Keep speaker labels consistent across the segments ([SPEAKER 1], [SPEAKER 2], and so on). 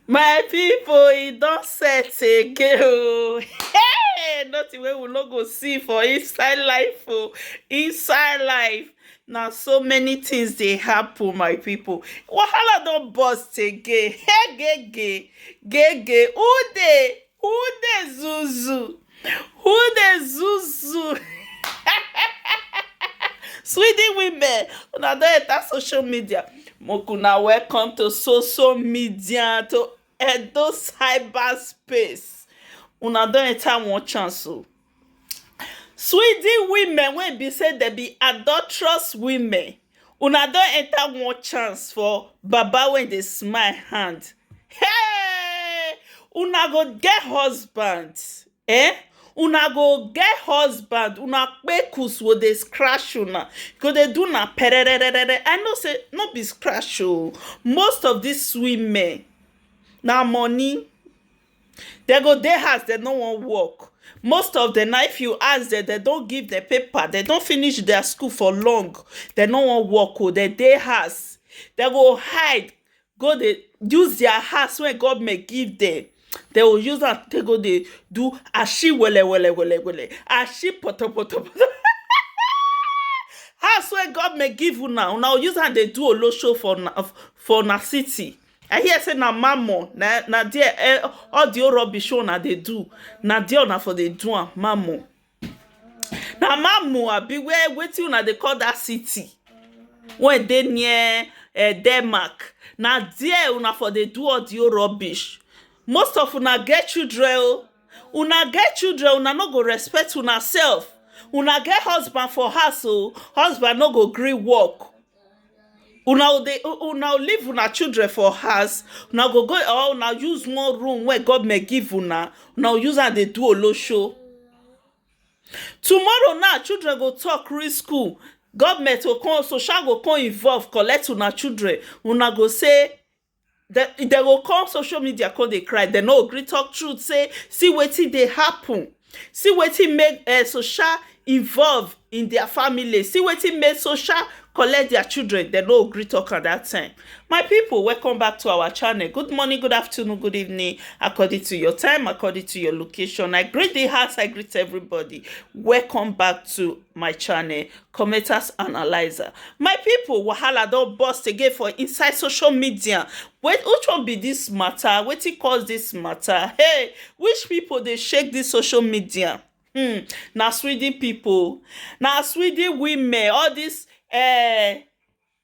[SPEAKER 1] my people, e don set again o hey nothing wey we no go see for inside life o inside life na so many things dey happen my people. wahala don burst again hey gege gege who dey Who dey zuzu? Who dey zuzu? Sweden women, una don enter social media. Make una welcome to social media to Edo cyber space. Una don enter one chance o. Sweden women wey be sey dem be adulterous women una don enter one chance for baba wey dey smile hand hey! una go get husband eh una go get husband una kpekus go dey scratch una e go dey do una pererere I know sey no be scratch oo most of dis women na money Dem go dey house dem no wan work most of dem na if you ask dem dem don give dem paper dem don finish their school for long dem no wan work oh dem dey house dem go hide go dey use their house wey government give dem dem go use am take go dey do ashi wele wele wele wele ashi poto poto poto um house wey government give una una go use am dey do olosho for una city i hear say na mammon na na there eh, all the whole rubbish wey una dey do na there una for dey do am mammon na mammon abi where wetin una dey call that city wey dey near eh, denmark na there una for dey do all the whole rubbish most of una get children o una get children una no go respect una self una get husband for house o husband no go gree work una go dey una go leave una children for house una go go or una use one room wey government give una una go use am dey do olosho tomorrow now children go talk reach school government go come social go come involve collect una children una go say dem dem go come social media come dey cry dem no gree talk truth say see wetin dey happen see wetin make um social involve in their family see wetin make social collect their children dem no gree talk am that time my people welcome back to our channel good morning good afternoon good evening according to your time according to your location i greet the house i greet everybody welcome back to my channel Cometas analyser, my pipo wahala don burst again for inside social media which one be dis mata wetin cause dis mata hey which pipo dey shake dis social media hmm na sweden pipo na sweden women all dis eh.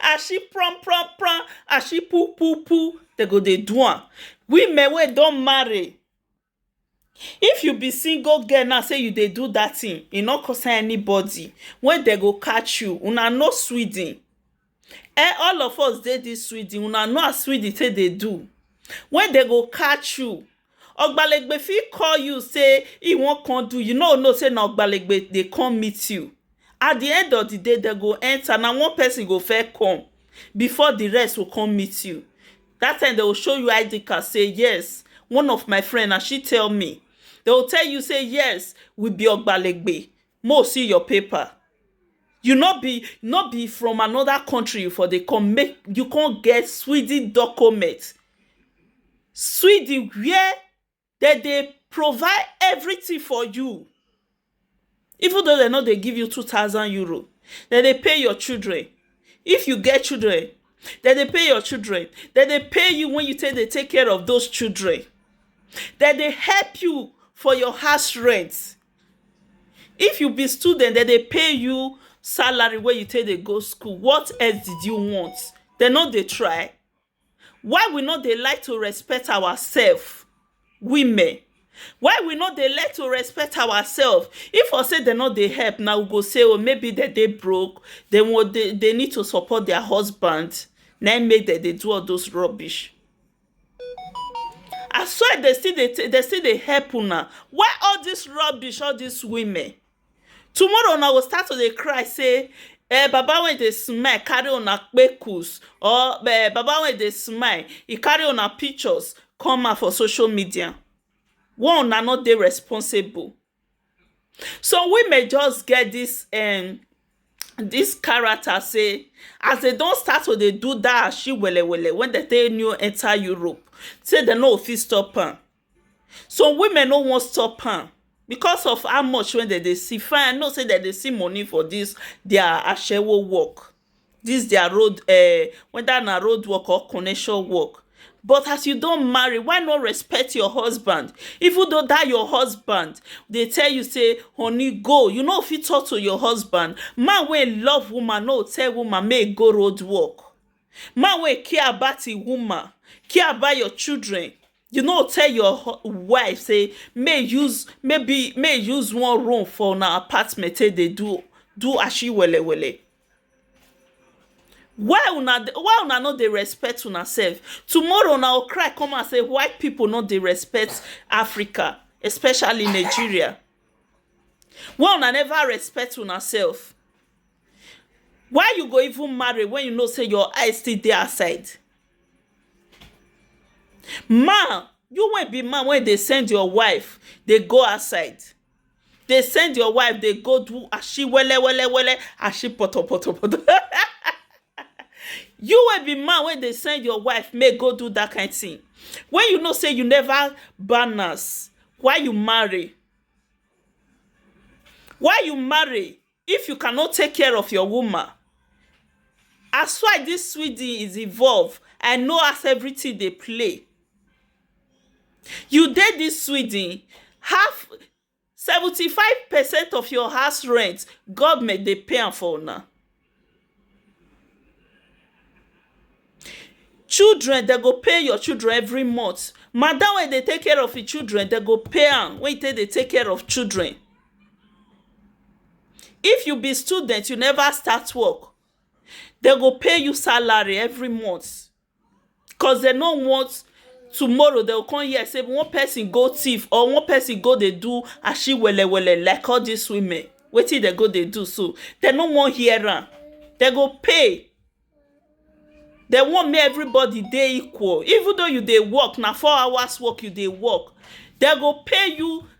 [SPEAKER 1] as she prom prom prom as she poo poo poo they go dey do am women wey don marry if you be single girl now say you dey do that thing e no concern anybody when they go catch you una know sweden eh all of us dey this sweden una know as sweden take dey do when they go catch you Ogbalegbe fit call you say he wan come do, you no know say na Ogbalegbe dey come meet you. At the end of the day, dem go enter, na one person go first come before the rest go come meet you. That time, dem go show you ID card say yes, one of my friend, na she tell me. Dem go tell you say yes, we be Ogbalegbe. Mo see your paper you no be no be from another country you for dey come make you come get sweden document sweden where dem dey provide everything for you even though dem no dey give you two thousand euro dem dey pay your children if you get children dem dey pay your children dem dey pay you when you take dey take care of those children dem dey help you for your house rent If you be student dem dey pay you salary wey you take dey go school what else did you want dem no dey try why we no dey like to respect ourselves women why we no dey like to respect ourselves if for say dem no dey help na we go say maybe dem dey broke dem need to support their husband na him make dem dey do all those rubbish I swear dem still dey dem still dey help una why all this rubbish all this women tomorrow una go start to dey cry say um baba wey dey smile carry una kpekus or um baba wey dey smile e carry una pictures come out for social media why una no dey responsible Some women just get dis um dis character sey as dem don start to dey do dat ashiwele wele wey dem take new enter Europe sey dem no go fit stop am. Some women no wan stop am because of how much wey dem dey see fine I know sey dem dey see money for dis their ashewo work dis dia road um weda na road work or connection work but as you don marry why no respect your husband even though dat your husband dey tell you sey honey go you no fit talk to your husband man wey love woman no go tell woman make e go road work man wey care about him woman care about your children You no tell your hu- wife say may use maybe may use one room for una apartment take dey do do ashi wele wele. Why una dey- why una no dey respect una self? Tomorrow una go cry come out say white people no dey respect Africa, especially Nigeria. Why una never respect una self? Why you go even marry when you know say your eyes still dey outside? Man, you wey be man wey dey send your wife dey go outside, dey send your wife dey go do ashiwele wele wele, ashipotopoto, you wey be man wey dey send your wife make e go do dat kind tin, wey you know sey you neva balance, why you marry? Why you marry? If you cannot take care of your woman as why this sweden is involve I know as everything dey play you dey this sweden half seventy five percent of your house rent government dey pay am for una children dem go pay your children every month madam wey dey take care of him children dem go pay am wey take dey take care of children if you be student you never start work dem go pay you salary every month cause dem no want tomorrow dem go come hear sey one person go thief or one person go dey do ashiwelewele like all dis women wetin dem go dey do so dem no wan hear am dem go pay dem want make everybody dey equal even though you dey work na four hours work you dey work dem go pay you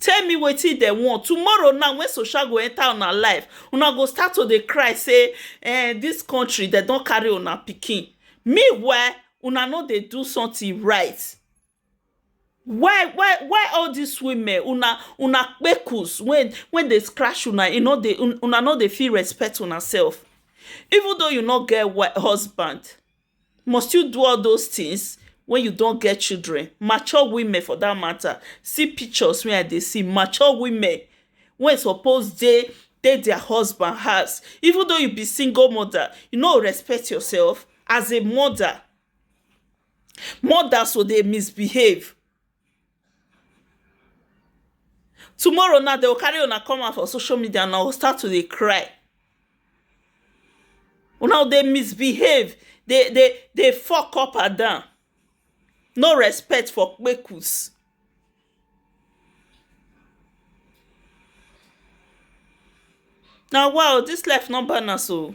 [SPEAKER 1] Tell me wetin dem want. Tomorrow now when social go enter una life, una go start to dey cry say eh dis country dem don carry una pikin. Meanwhile, una no dey do something right. Why why why all dis women una una kpekus wey wey dey scratch una e no dey una no dey fit respect una self. Even though you no get husband, must you do all those things when you don get children mature women for that matter see pictures wey i dey see mature women wey suppose dey dey their husband house even though you be single mother you no go respect yourself as a mother mothers go dey misbehave Tomorrow now, they will carry una come out for social media and I will start to dey cry. Una dey misbehave, dey dey dey fuck up and down. No respect for kpekus. Na wa o, dis life no balance o.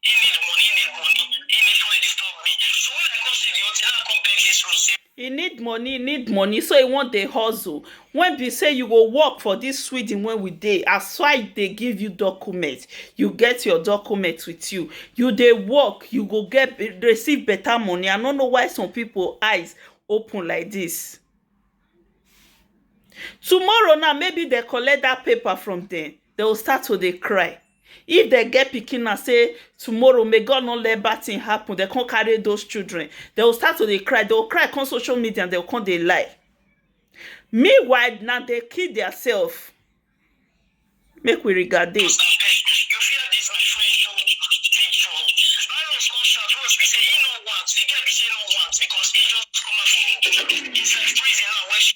[SPEAKER 1] He need money, he need money, he need somebody disturb me. So when I come see the auntie, now I come beg this room, say, He need money, he need money, so he want dey hustle. When be say you go work for this Sweden when we dey, as why dey give you document, you get your document with you, you dey work, you go get receive better money. I no know why some people eyes open like this. Tomorrow now, maybe they collect that paper from them, they will start to dey cry. If dem get pikin now sey tomorrow may God no let bad thing happen, dem come carry those children, dem go start to dey cry, dem go cry come social media and dem go come dey lie. Meanwhile, na dem kill their self. Make we regade.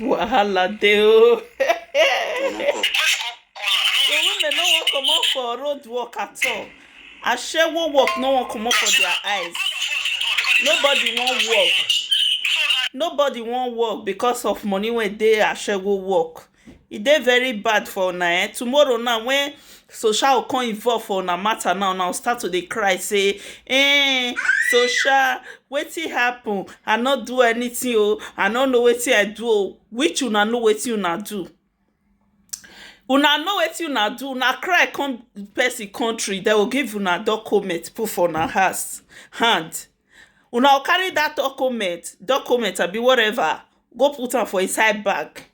[SPEAKER 1] Wahala dey o. The women no wan comot for road work at all. Ashewo work no wan comot for their eyes. Nobody wan work. Nobody wan work because of money wey dey ashewo work. E dey very bad for una eh, tomorrow now when Sosha go come involve for una matter now, una go start to dey cry say, eh, Sosha, wetin happen? I no do anything oh, I no know wetin I do oh. Which una know wetin una do? Una know wetin una do, una cry come person country, dem go give una document put for una house, hand. Una go carry dat document, document abi whatever, go put am for inside bag.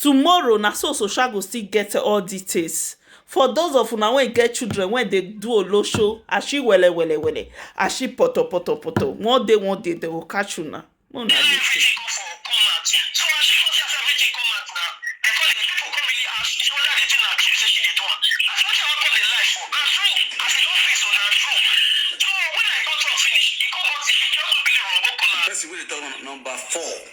[SPEAKER 1] Tomorrow na so so sha go still get all details for those of una wey get children wey dey do olosho ashi wele wele wele ashi poto poto poto one day one day dem go catch una make una dey see. Person wey dey talk number four.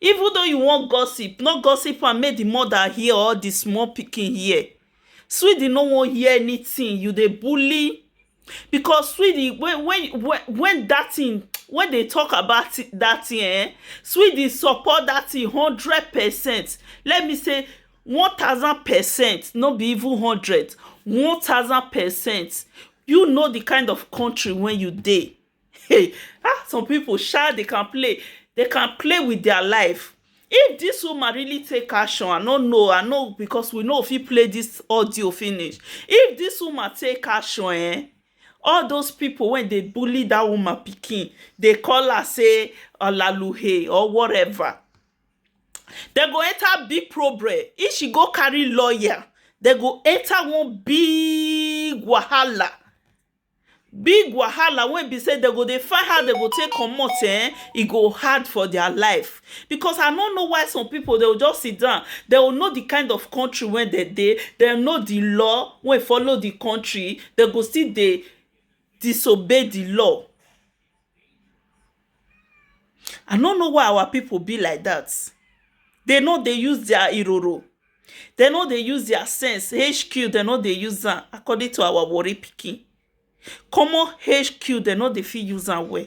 [SPEAKER 1] Even though you wan gossip, no gossip am make the mother hear or the small pikin hear. Swede no wan hear anything, you dey bully because Swede when when when that thing when they talk about that thing eh, Swede support that thing hundred percent. Let me say one thousand percent, no be even hundred, one thousand percent. You know the kind of country wey you dey. Hey, ah, some people sha they can play. They can play with their life. If this woman really take action, I no know, I know because we know if he play this audio finish. If this woman take action, eh? all those people when they bully that woman picking, they call her say olaluhe or whatever They go enter big problem if she go carry lawyer They go enter one big wahala Big wahala wey be sey dem go dey find how dem go take comot um, e go hard for their life. Because I no know why some people dem go just sit down, dem go know the kind of country wey dem dey, dem know the law wey follow the country, dem go still dey disobey the law. I no know why our people be like that. They no dey use their iroro. They no dey use their sense. HQ, they no dey use am according to our worry picking. Common HQ, they no dey fit use am well.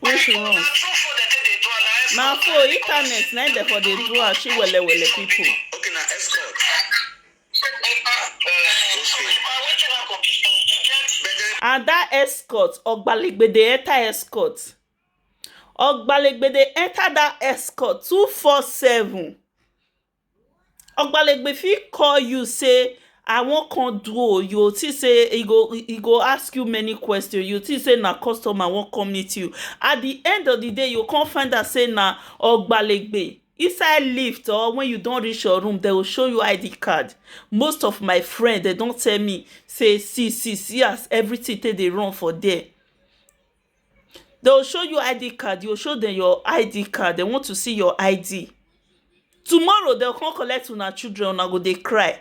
[SPEAKER 1] When she wrong. Na for internet na dem for dey do am she wele wele people. Okay, na escort. And that escort, Ogbaligbede Eta escort. Ogbalegbe dey enter that escort two four seven Ogbalegbe fit call you say I wan come do oo you go think say he go he go ask you many questions you go think say na customer wan come meet you at the end of the day you go come find out say na Ogbalegbe inside lift or when you don reach your room dem go show you ID card most of my friend dem don tell me say see see see as everything take dey run for there Dey will show you ID card, you go show dem your ID card, dey want to see your ID Tomorrow dey go come collect una children, una go dey cry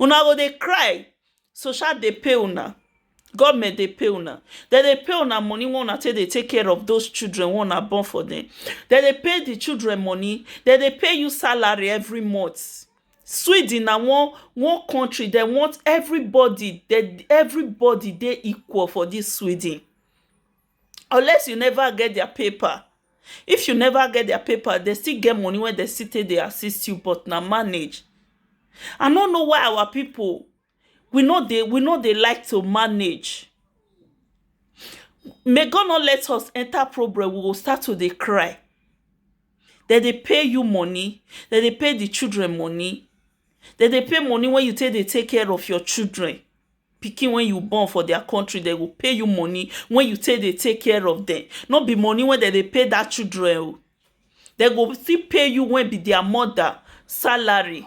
[SPEAKER 1] Una go dey cry Social dey pay una Government dey pay una Dem dey pay una money wey una take dey take care of those children wey una born for dem Dem dey pay the children money Dem dey pay you salary every month Sweden na one one country dey want everybody dey everybody dey equal for dis sweden unless you never get their paper if you never get their paper dey still get money wey dey still take dey assist you but na manage I no know why our people we no dey we no dey like to manage may God not let us enter problem we go start to dey cry dem dey pay you money dem dey pay the children money dem dey pay money wey you take dey take care of your children pikin wey you born for their country dem go pay you money wey you take dey take care of them no be money wey dem dey pay that children o dem go still pay you wey be their mother salary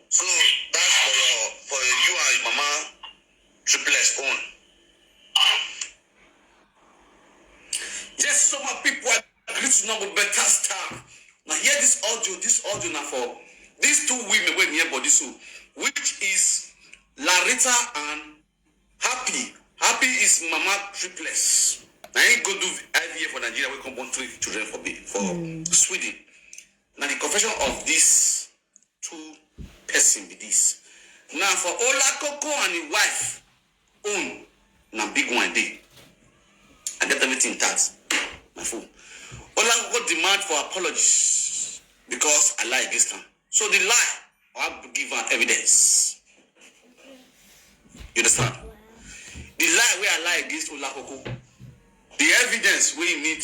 [SPEAKER 1] So that's for your for you and your mama triplets own. Yes, so my people are greeting now with better stuff. Now hear this audio, this audio now for these two women when near body so, which is Larita and Happy. Happy is mama triplets. Now he go do IVF for Nigeria, we come born three children for me for Sweden. Now the confession of this two person be this na for olakoko and him wife own na big one dey i get everything tagged my phone olakoko demand for apologies because i lie against am so the lie i go give am evidence you understand the lie wey i lie against olakoko the evidence wey you need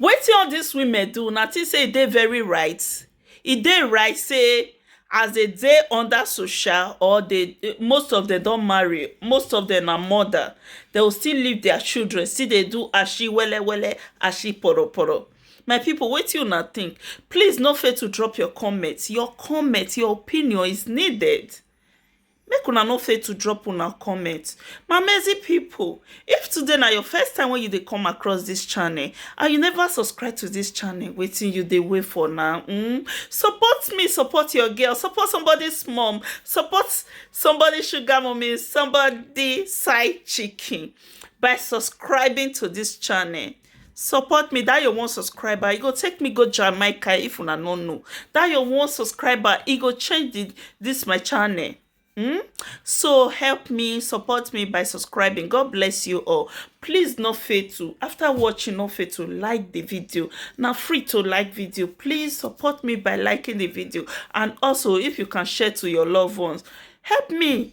[SPEAKER 1] Wetin all dis women do, una think sey e dey very right? E dey right sey as de dey under social or de most of dem don marry, most of dem na mother, de o still leave dia children still dey do ashi wele wele, ashi poro poro. My pipu, wetin una think? Please no fail to drop your comment. Your comment, your opinion is needed. Make una no fail to drop una comment. My amazing people, if today na your first time when you dey come across this channel and you never subscribe to this channel, wetin you dey wait for now? Mm? Support me, support your girl, support somebody's mom, support somebody's sugar mommy, somebody's side chicken by subscribing to this channel. support me that your one subscriber e go take me go jamaica if una no know that your one subscriber e go change the, this my channel hmm? so help me support me by subscribing god bless you all please no fail to after watching no fail to like the video now free to like video please support me by liking the video and also if you can share to your loved ones help me